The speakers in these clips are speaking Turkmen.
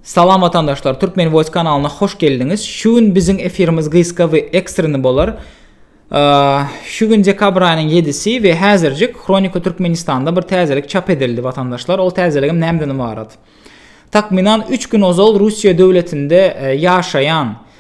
Salam watandaşlar Turkmen voice kanalyna hoş geldiňiz şu gün biziň efirimiz gysga we ekstreni bolar şu gün dekabr aýynyň ýedisi we häzirjik hronika türkmenistanda bir täzelik çap edildi watandaşlar ol täzeligim nämden ybarat takmynan üç gün ozal russiýa döwletinde e, ýaşaýan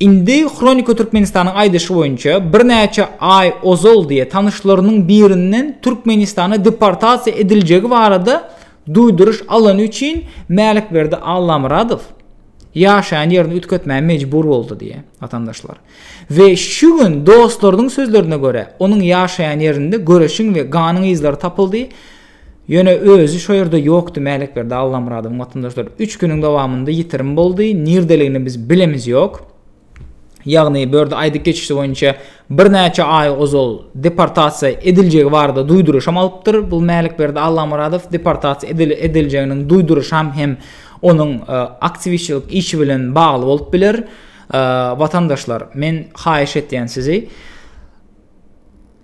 Indi Hronika Türkmenistanyň aýdyşy boýunça, birnäçe aý ozal diýe tanyşlarynyň birinden Türkmenistana deportasiýa ediljegi barada duýduryş alany üçin Mälikberdi Allamyradow ýaşaýan ýerini üýtgetmäge mejbur boldy diýe watandaşlar. We şu gün dostlarynyň sözlerine görä, onuň ýaşaýan ýerinde göreşiň we ganyň yzlary tapyldy. Ýöne özi şo ýerde ýokdy, Mälekberdi Allamyradowyň watandaşlary üç günüň dowamynda ýitirim boldy, nirdeligini biz bilemiz ýok. Ýagny bu ýerde aýdyp geçişi boýunça birnäçe aý ozal deportasiýa ediljegi barada duýduryşam alypdyr bu Mälekberdi Allamyradow, deportasiýa ediljeginiň duýduryşam hem onuň aktiwistçilik işi bilen bagly bolup biler. Watandaşlar, men haýyş etýän sizi,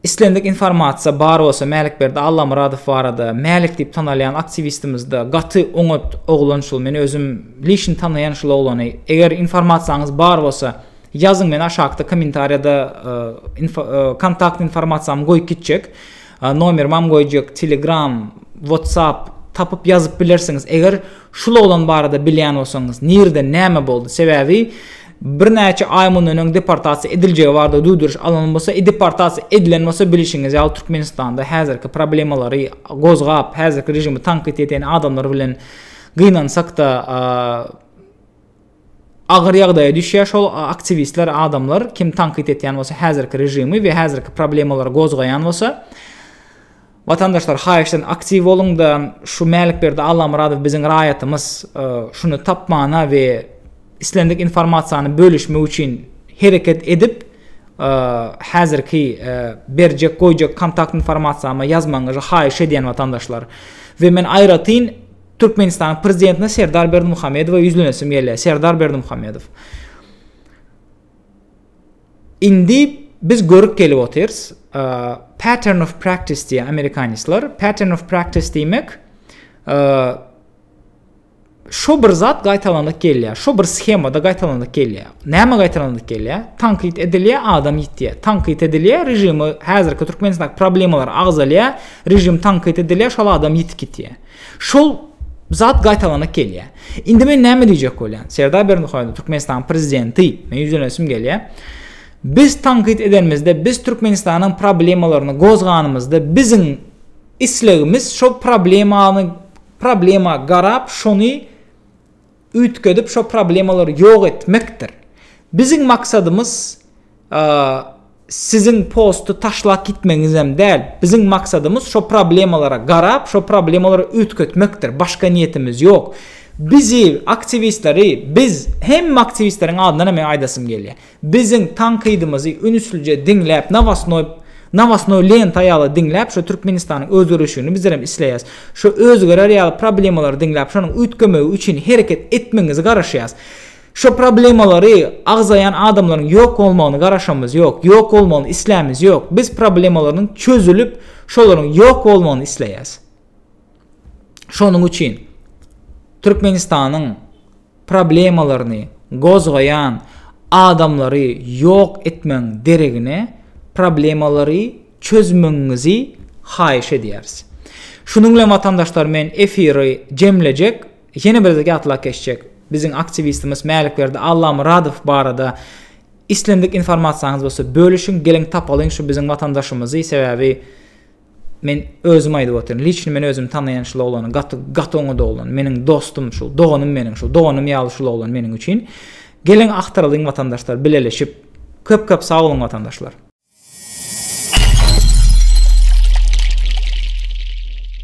Islendik informasiýa bar bolsa Mälikberdi Allamyradow barada, Mälik diýip tanalýan aktiwistimizde gaty oňat oglan şul men özüm lişni tanaýan şul oglany eger informasiýaňyz bar bolsa ýazyň men aşakda kommentariýada kontakt informasiýamy goýup gitjek nomerimam goýjak telegram whatsapp tapyp ýazyp bilersiňiz eger şul oglan barada bilýän bolsaňyz nirde näme boldy sebäbi birnäçe aý mundan öň deportasiýa ediljegi barada duýduryş alan bolsa e deportasiýa edilen bolsa bilişiňiz ýaly Türkmenistanda häzirki problemalary gozgap häzirki režimi tankyt eden adamlar bilen gynansakda agyr ýagdaýa düşýär şol aktiwistler adamlar kim tankyt etýän bolsa häzirki režimi we häzirki problemalary gozgaýan bolsa Watandaşlar haýyşdan aktiw boluňda şu Mälikberdi Allamyradow biziň raýatymyz şuny tapmana we islendik informasiýany bölüşmek üçin hereket edip häzirki berjek goýjak kontakt informasiýama ýazmagyňyzy haýyş edýän watandaşlar we men aýratyn Türkmenistanyň prezidentine Serdar Berdimuhamedowa ýüzlenesim gelýär Serdar Berdimuhamedow Indi biz görüp gelip otyrys, pattern of practice diýýär amerikanisler. Pattern of practice diýmek, şo bir zat gaýtalanyp gelýär. Şo bir sahemada gaýtalanyp gelýär. Näme gaýtalanyp gelýär? Tankyt edilýär, adam ýitýär. Tankyt edilýär, režimi häzirki Türkmenistanyň problemalary agzalýar, režim tankyt edilýär, şol adam ýitip gitýär. Şol zat gaýtalanyp gelýär. Indi men näme diýjek bolýan? Serdar Berdimuhamedow Türkmenistanyň prezidenti, men ýüzlenesim gelýär. Biz tankyt edenimizde, biz Türkmenistanyň problemalaryny gozganymyzda, biziň islegimiz şol problemany problema garap, şony Üýtgedip şo problemalary ýok etmekdir. Biziň maksadymyz siziň posty taşlap gitmegiňizem däl. Biziň maksadymyz şo problemalara garap şo problemalary üýtgetmekdir. Başga niýetimiz ýok. Bizi aktiwistleri biz hemme aktiwistleriň adyndanam men aýdasym gelýär. Biziň tankydymyzy ünslice diňläp nowostnoý nowostnoý lenta ýaly diňläp şu Türkmenistanyň özgerişigini bizlerem isleýäs. Şu özgerer ýaly problemalary diňläp şonuň üýtgemegi üçin hereket etmegiňizi garaşýas. Şu problemalary agzaýan adamlaryň ýok bolmagyny garaşamyz ýok, ýok bolmagyny islämiz ýok. Biz problemalarynyň çözülip şolaryň ýok bolmagyny isleýäs. Şonuň üçin Türkmenistanyň problemalaryny gozgaýan adamlary ýok etmegiň deregine problemalary çözmegiňizi haýyş edýäris. Şunuň bilen watandaşlar men efiri jemlejek, ýene bir gezek ýatlap geçjek, biziň aktiwistimiz Mälikberdi Allamyradow barada islendik informasiýaňyz bolsa bölüşiň, geliň tapalyň şu biziň watandaşymyzy, sebäbi Men özüm aýdyp otyryn. Liçni men özüm tanaýan şul oglany gaty gaty oňat oglan. Meniň dostum şul, doganym meniň şul, doganym ýaly şul oglan meniň üçin. Geliň agtaralyň watandaşlar bileleşip. Köp köp sag boluň watandaşlar.